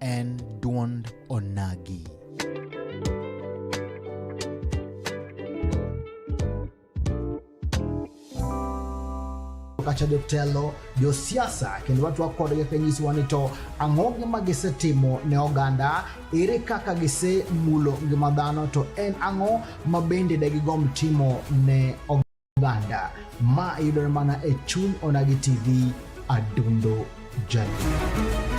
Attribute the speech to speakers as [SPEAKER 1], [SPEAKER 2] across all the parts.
[SPEAKER 1] en dwond onagi. kacha jotelo josiasa kendo watwa kodgi kanyisowa ni to ang'o gima gisetimo ne oganda ere kaka gisemulo ngima dhano to en ang'o ma bende degigomb timo ne oganda Uganda ma yudore mana e chuny Onagi TV Adundo Jadundo.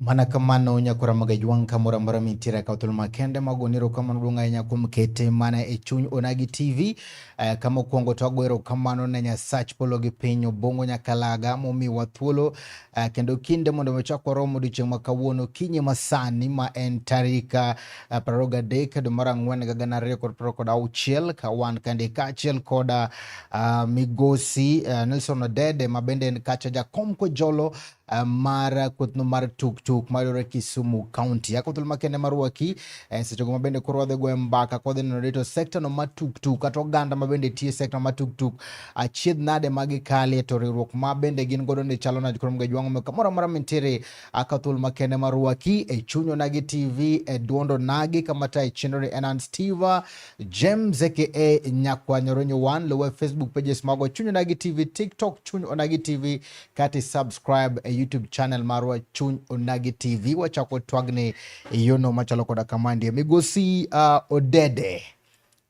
[SPEAKER 1] Mana kamano Nyako Ramogi Ajwang' kamoro amora mintiere akawo thuolo makende mag goyo erokamano duong' ahinya kuom kete mana e chuny Onagi TV. Eh, kama okwongo to ago erokamano ne Nyasach polo gi piny Obongo Nyakalaga momiwa thuolo eh, kendo kinde mondo wachak warom odiechieng' ma kawuono kinyi masani ma en tarik eh, prariyo gadek dwe mar ang'wen higa gana ariyo kod prariyo kod auchiel ka wan kande kaachiel koda ah, migosi eh, Nelson Odede ma bende en kacha jakom Kojolo Eh, mar kuthno mar tuktuk mayudore Kisumu County. Ako thuolo makende marwaki eh, seche go mabende koro wadhi goyo mbaka kwadhi neno rito sekta no ma tuktuk kata oganda mabende tiyo sekta ma tuktuk achiedh nade ma gikalie to riwruok ma bende gin godo ni chalo nade koro mga jwang'o me kamoro amora mintiere aka thuolo makende marwaki e chunyo nagi TV e duondo nagi kamata e chenro ni Enan Steve James aka Nyakwanyoronyo One luwe Facebook pages mago chunyo nagi TV TikTok chunyo nagi TV kati subscribe e YouTube channel marwa Chuny Onagi TV. Wachako twagni e yono machalo koda kama ndiye migosi uh, Odede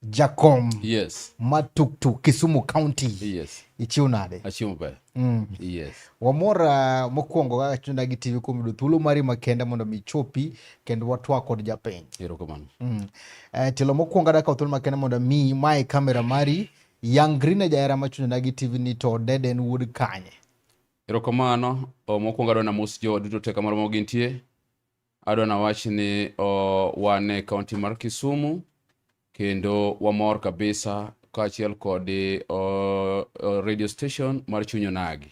[SPEAKER 1] Jakom yes. ma
[SPEAKER 2] tuktuk Kisumu
[SPEAKER 1] County yes. ichiw nade?
[SPEAKER 2] Achiw
[SPEAKER 1] maber mm.
[SPEAKER 2] yes. Wamor uh,
[SPEAKER 1] mokwongo kaka Chuny Onagi TV kuom yudo thuolo mari makende mondo mi chopi kendo watwa kod japiny. Erokamano. Mm.
[SPEAKER 2] Uh,
[SPEAKER 1] telo mokwongo adakawo thuolo makende mondo mi mae kamera mari Young Green e jahera machunjona gi TV ni to Dede en wuod kanye? Erokamano,
[SPEAKER 2] oh, mokwongo adwa namos jo duto te kamoro ma gintie. Adwa nawach ni oh, wan e kaunti mar Kisumu kendo wamor kabisa kaachiel kod oh, oh, radio station mar Chuny Onagi.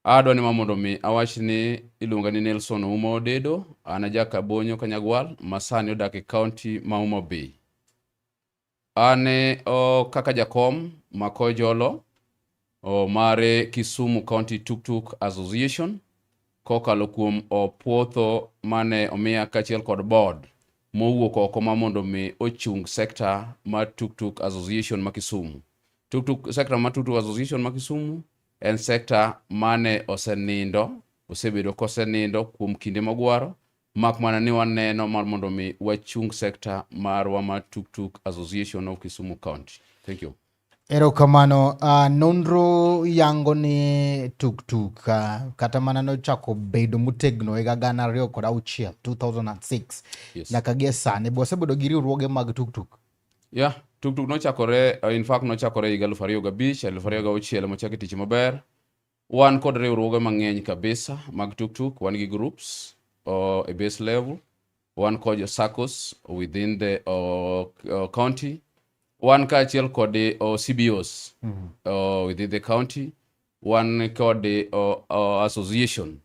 [SPEAKER 2] Adwa ni ma mondo mi awach ni iluonga ni Nelson Ouma Odedo, an ajaka Bonyo Kanyagwal, masani odak e kaunti ma Homa Bay. An oh, kaka jakom mako jolo oh, mare Kisumu County Tuk Tuk Association kokalo kuom opuotho mane omiya kachiel kod board mowuok oko ma mondo mi ochung sekta ma Tuk Tuk Association ma Kisumu. Tuk Tuk sekta ma Tuk Tuk Association ma Kisumu en sekta mane osenindo osebedo kosenindo kuom kinde mogwaro Mak mana ni waneno mar mondo mi wachung sekta marwa ma Tuktuk Association of Kisumu County. Thank you.
[SPEAKER 1] Erokamano. Uh, nonro yango ni tuktuk uh, ah, kata mana nochako bedo motegno higa gana ariyo kod auchiel 2006 yes. nyaka gie
[SPEAKER 2] sani be
[SPEAKER 1] wasebedo gi riwruoge mag tuktuk ya yeah,
[SPEAKER 2] tuktuk nochakore uh, in fact nochakore higa aluf ariyo gabich aluf ariyo gauchiel mochaki tich maber Wan kod riwruoge mang'eny kabisa mag tuktuk, wan gi groups uh, a base level, wan kod SACCOs within the uh, uh, county, wan kaachiel kod uh, CBOs mm -hmm. uh, within the county, wan kod uh, uh, association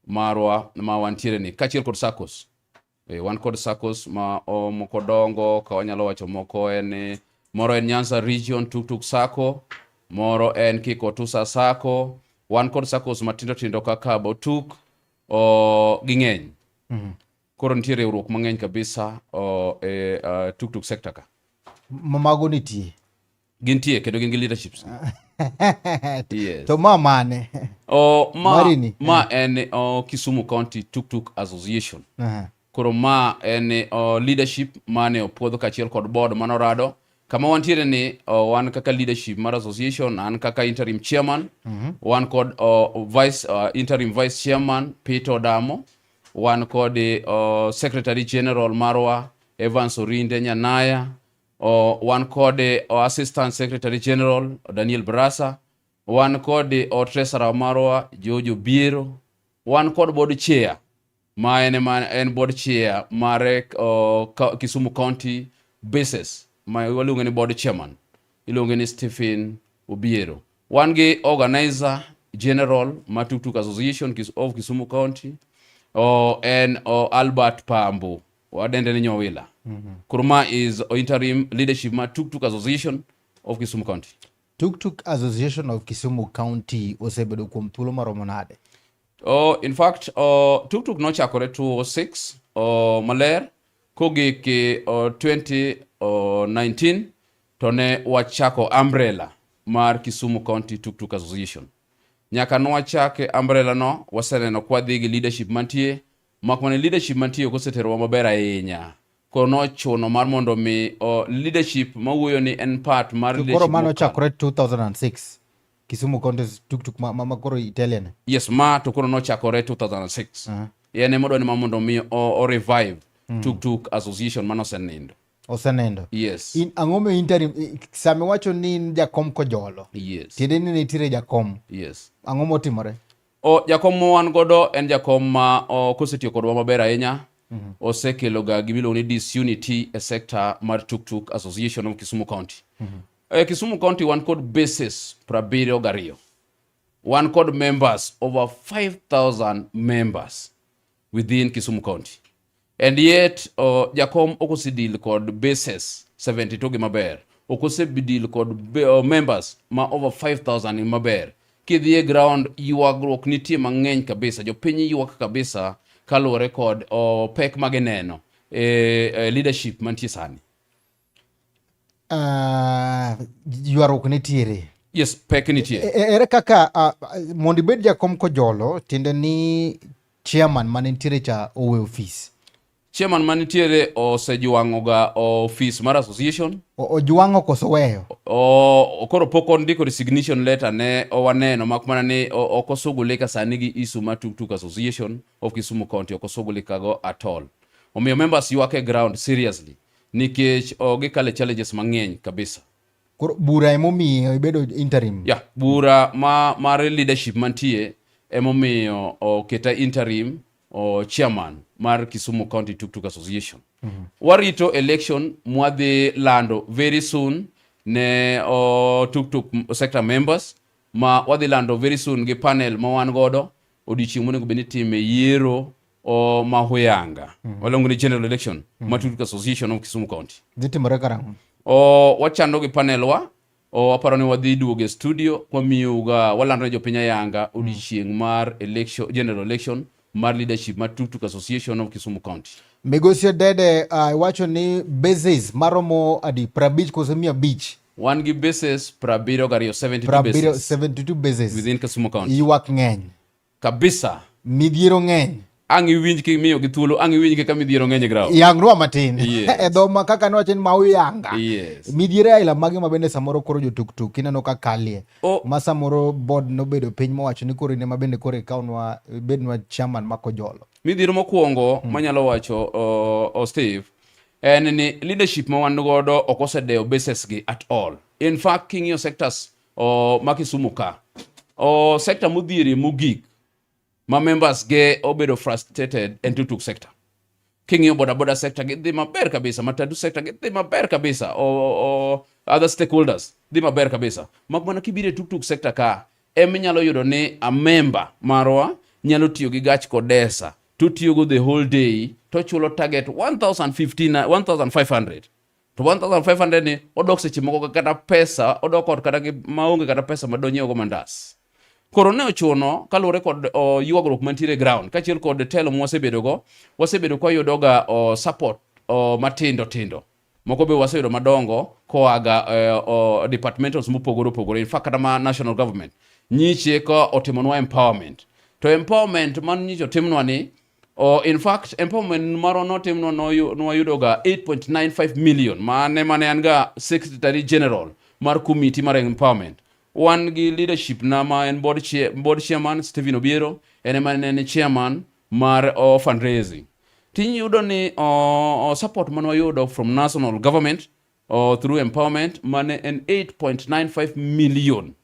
[SPEAKER 2] marwa ma wantiere ni kaachiel kod SACCOs Eh, wan kod SACCOs ma o moko dongo ka wanyalo wacho moko en eh, moro en Nyanza Region Tuktuk SACCO, moro en Kikotusa SACCO, wan kod SACCOs matindo tindo kaka Botuk o, ging'eny. Mhm. Koro nitie riwruok mang'eny kabisa o, e uh, Tuktuk sector ka. Ma- Mago
[SPEAKER 1] nitie. Gintie kendo
[SPEAKER 2] gin gi leaderships. yes. To ma mane?
[SPEAKER 1] Oh, ma, Marini.
[SPEAKER 2] ma eh. en oh, Kisumu County Tuk Tuk Association. Uh -huh. Koro ma en oh, leadership mane opuodho kachiel kod board mano rado kama wantiere ni uh, wan kaka leadership mar association an kaka interim chairman mm -hmm. wan kod uh, vice, uh, interim vice chairman Peter Odamo wan kod uh, secretary general marwa Evans Orinde Nyanaya o, wan kod eh, o assistant secretary general o daniel brasa wan kod eh, o treasurer marwa jojo biero wan kod board chair ma en, ma en board chair mar eh, o, ka- kisumu county basis ma waluonge ni board chairman iluonge ni stephen obiero wan gi organizer general ma tuktuk association Kis- of kisumu county o, en o, albert pambo wadende ni nyowila mm -hmm. kurma is interim leadership ma tuktuk association of kisumu county tuktuk
[SPEAKER 1] association of kisumu county osebedo kuom thuolo maromo nade oh, in
[SPEAKER 2] fact oh, tuktuk nochakore 206 oh, maler kogik oh, 2019 oh, to ne wachako umbrella mar kisumu county tuktuk association nyaka nwachake umbrella no waseneno kwadhi gi leadership mantie Mak mana leadership mantie ok oseterowa maber ahinya. Koro nochuno mar mondo mi o leadership mawuoyo ni en part mar leadership. Koro mano chakore 2006.
[SPEAKER 1] Kisumu County tuktuk ma, ma, ma koro Italian. Yes, ma to koro
[SPEAKER 2] nochakore 2006. Uh -huh. Yene modwa ni ma mondo mi o, o revive mm. tuktuk association mano osenindo. Osenindo.
[SPEAKER 1] Yes. In ang'o
[SPEAKER 2] me interim
[SPEAKER 1] same wacho ni in jakom kojolo. Yes. Tiende ni
[SPEAKER 2] nitiere jakom.
[SPEAKER 1] Yes. Ang'o
[SPEAKER 2] motimore?
[SPEAKER 1] O, jakom ma
[SPEAKER 2] wan godo en jakom ma o, kosetiyo kodwa maber ahinya mm -hmm. osekeloga gimiluongo ni disunity e sector mar tuktuk association of kisumu county mm -hmm. e, kisumu county wan kod bases prabiriyo gariyo wan kod members over 5000 members within Kisumu County. And yet, uh, Jacom okosidil kod bases 72 gi maber. Okosedil kod uh, members ma over 5,000 in maber. Kidhie ground, yuagruok nitie mang'eny kabisa. Jopiny yuak kabisa kaluwore kod uh, pek magineno e, e leadership mantie sani.
[SPEAKER 1] Uh, ywaruok nitiere yes pek nitie
[SPEAKER 2] e, e, ere kaka uh,
[SPEAKER 1] mondo ibed jakom kojolo tiende ni chairman mane nitiere cha owe ofis chairman ma
[SPEAKER 2] nitiere osejwang'oga office mar association ojwang'o koso
[SPEAKER 1] weyo koro
[SPEAKER 2] pok ondiko resignation letter ne owaneno mak mana ni ok osugulika sani gi isuma tuktuk association of kisumu county ok osugulikago at all omiyo members ywak e ground seriously nikech oh, gikale challenges mang'eny kabisa Koro bura
[SPEAKER 1] emomiyo ibedo interim ya yeah, bura
[SPEAKER 2] ma mar leadership mantie emomiyo oketa oh, interim o oh, chairman mar Kisumu County Tuk Tuk Association mm -hmm. warito election mwadhi lando very soon ne o Tuk Tuk sector members ma wadhi lando very soon gi panel ma wan godo odiochieng' monego bed ni time yiero o mahuyanga mm. walongo ni general election mm. matut association of kisumu county dhitimore karang'o
[SPEAKER 1] o wachando
[SPEAKER 2] gi panelwa o waparo ni wadhi duoge studio wamiyoga walando ne jopiny ayanga mm. odiochieng' mm. mar election general election mar leadership mar tuktuk association of kisumu county migosi dede
[SPEAKER 1] uh, iwacho uh, ni bases maromo adi prabich kose mia abich wan gi bases
[SPEAKER 2] prabiriyo gariyo 72
[SPEAKER 1] bases within kisumu county ywak
[SPEAKER 2] ng'eny
[SPEAKER 1] Kabisa.
[SPEAKER 2] Midhiero ng'eny. Ang' iwinj ki miyo gi thuolo, ang' iwinj kaka midhiero ng'eny grao. Yangrua matin. Yes.
[SPEAKER 1] e dho ma kaka
[SPEAKER 2] ne wacho
[SPEAKER 1] ni ma uyanga. Yes. Midhiero
[SPEAKER 2] aila mage ma
[SPEAKER 1] bende samoro koro jo tuktuk ineno ka kalie. Oh. Ma samoro
[SPEAKER 2] board
[SPEAKER 1] nobedo piny mowacho ni koro ine ma bende koro ikawnwa bednwa chairman ma kojolo. Midhiero mokwongo
[SPEAKER 2] hmm. manyalo wacho uh, oh, Steve en ni leadership ma wan godo ok osedewo bases gi at all. In fact, king'iyo sectors o, ma Kisumu ka o, sector modhieri mogik ma members ge obedo frustrated en tutuk sector king'iyo bodaboda sector gidhi maber kabisa matatu sector gidhi maber kabisa o, o, other stakeholders dhi maber kabisa mak mana kibire tuktuk sector ka em inyalo yudo ni a member marwa nyalo tiyo gi gach kodesa to tiyogo the whole day to chulo target 1500 to 1500 ni odok seche moko kata pesa odok ot kata maonge kata pesa ma donyiewogo mandas koro ne ochuno kaluwore kod o, ywagruok mantiere e ground kaachiel kod telo ma wasebedogo wasebedo kwayudoga o, support o, matindo tindo moko be waseyudo madongo koaga e, o, departmentals mopogore opogore in fact kata ma national government nyiche ka otimonwa empowerment to empowerment man nyiche otimnwa ni Oh, in fact, empowerment maro notim no nwayudo ga 8.95 million mane mane an ga secretary general mar committee mar empowerment. Wan gi leadership na ma en board, chair, board chairman Stephen Obiero, en ema ne chairman mar oh, fundraising. Tiny yudo ni oh, oh, support mane wayudo from national government oh, through empowerment mane en 8.95 million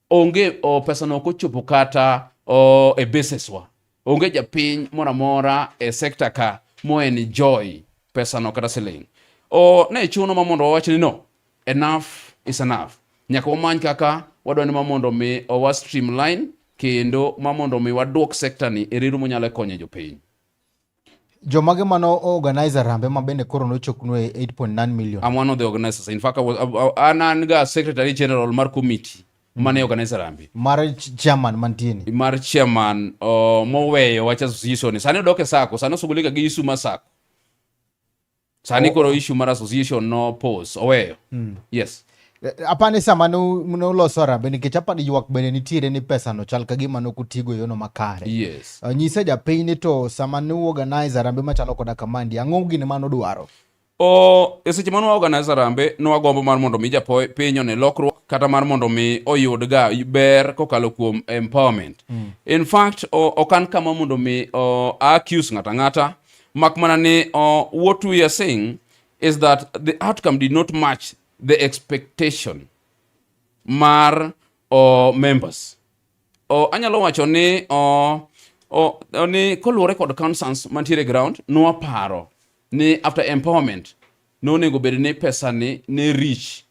[SPEAKER 2] onge o, pesa no okochopo kata o, e basis wa onge japiny moro amora e sekta ka mo enjoy pesa no kata siling o ne chuno ma mondo wawach ni no enough is enough nyaka wamany kaka wadwa ni ma mondo mi owa streamline kendo ma mondo mi wadwok sekta ni e reru monyalo konyo jopiny
[SPEAKER 1] Jomage mano organizer rambe ma bende koro nochoknwe 8.9 million. I'm one of the organizers. In
[SPEAKER 2] fact, I was an an ga secretary general mar committee mm. mane organize rambe. Mar chairman
[SPEAKER 1] mantieni. Mar chairman
[SPEAKER 2] uh, moweyo wacha association. Sani doke sako, sani osugulika gi Isuma sako. sani koro issue mar association no pose oweyo mm. yes eh, eh, apani
[SPEAKER 1] sama nuloso arambe nikech apani ywak bende nitiere ni pesa no chal kagima nokutigo e yono makare yes. uh, nyise
[SPEAKER 2] japiny ni
[SPEAKER 1] to sama nuorganize arambe machalo koda kamandi ang'o gini ma nodwaro o e
[SPEAKER 2] seche ma nwaorganize arambe nwagombo mar mondo mi japiny one lokruok kata mar mondo mi oyud ga ber kokalo kuom empowerment mm. in fact ok an kama mondo mi accuse ng'ata ng'ata Mak mana ni uh, what we are saying is that the outcome did not match the expectation mar uh, members. Uh, anyalo wacho ni uh, oh, oh, ni koluwore kod concerns mantiere ground nwaparo ni after empowerment nonego bed ni pesa ni ne rich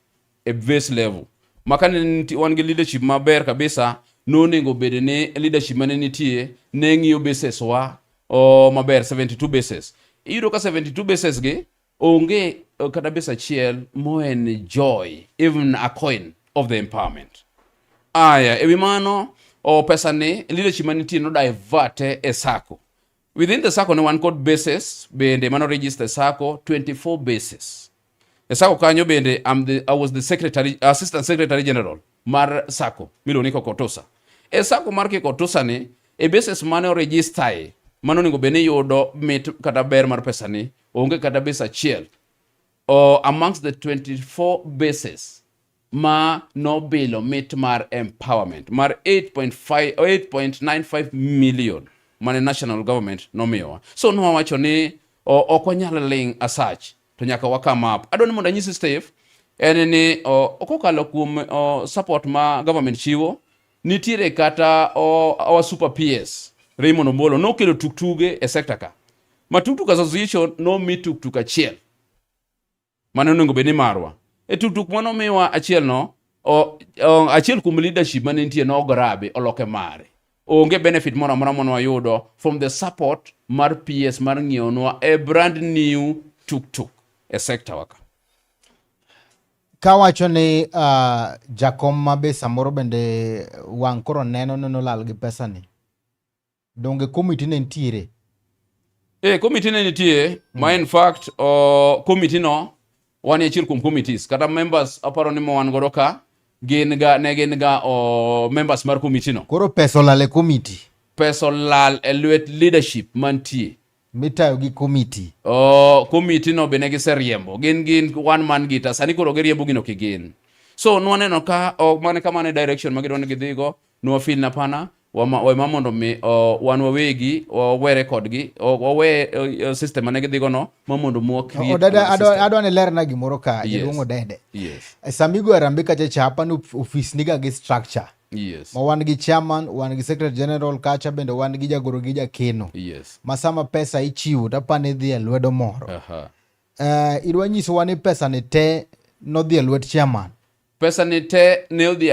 [SPEAKER 2] e base level ma ka ne wan gi leadership maber kabisa nonego bed ni leadership mane nitie ne ng'iyo bases wa o maber 72 bases iyudo ka 72 bases gi onge eh, kata base achiel moenjoy even a coin of the empowerment aya ewi mano o pesa ni leadership manitie no diverte e sako Within the sacco ne wan kod bases bende mano register sacco 24 bases. E sacco kanyo bende I'm the, I was the secretary, assistant secretary general mar sacco miluongo ni Kokotosa. E sacco mar Kokotosa ni e bases mane oregister e mano onego bende yudo mit kata ber mar pesa ni onge kata base achiel or amongst the 24 bases ma nobilo mit mar empowerment mar 8.95 million mane national government nomiyowa so nowacho ni ok wanyal ling asach to nyaka wakam up adwa ni mondo anyisi steve en ni kokalo kuom support ma government chiwo nitiere kata our super ps raymond omolo nokelo tuktuge e sector ka ma tuktuk association nomi tuktuk achiel mane onego bed ni marwa e tutuk mane omiwa achiel no achiel kuom leadership mane nitie ne ograbe oloke mare onge benefit moro amora mane wayudo from the support mar PS mar ng'iewonwa a brand new tuktuk e sector waka kawacho
[SPEAKER 1] ni uh, jakom ma be samoro bende wang' koro neno neno lal gi pesa ni Donge komiti ne nitiere? Eh,
[SPEAKER 2] komiti ne nitie mm. ma in fact uh, komiti no wan e achiel kuom committees kata members aparo ni mo wan godo ka gin ga ne
[SPEAKER 1] gin ga
[SPEAKER 2] uh,
[SPEAKER 1] members
[SPEAKER 2] mar komiti
[SPEAKER 1] no. Koro
[SPEAKER 2] pesa olal e
[SPEAKER 1] komiti.
[SPEAKER 2] Pesa olal e lwet leadership mantie. mitayo gi
[SPEAKER 1] komiti oh, komiti
[SPEAKER 2] no be ne giseriembo gin gin one man gita sani koro giriembo gino kigin so nwaneno ka oh, mane kamane direction ma gidwa ni gidhigo nwafil na pana wema mondo mi oh, wan wawegi wawere kodgi oh, wawe oh, system mane gidhigo no ma mondo mwa adwa ni lerna
[SPEAKER 1] gimoro ka jaduong' odede yes. samigo
[SPEAKER 2] arambe kacha
[SPEAKER 1] cha apani ofis niga gi structure Yes. Ma wan gi chairman, wan gi secretary general kacha bende wan gi jagoro gi jakeno. Yes. Ma sama
[SPEAKER 2] pesa
[SPEAKER 1] ichiwo to apani idhi e lwedo moro. Uh -huh. Uh,
[SPEAKER 2] idwa
[SPEAKER 1] nyisowa ni pesa
[SPEAKER 2] ni
[SPEAKER 1] te nodhi
[SPEAKER 2] e lwet
[SPEAKER 1] chairman. Pesa ni te ne odhi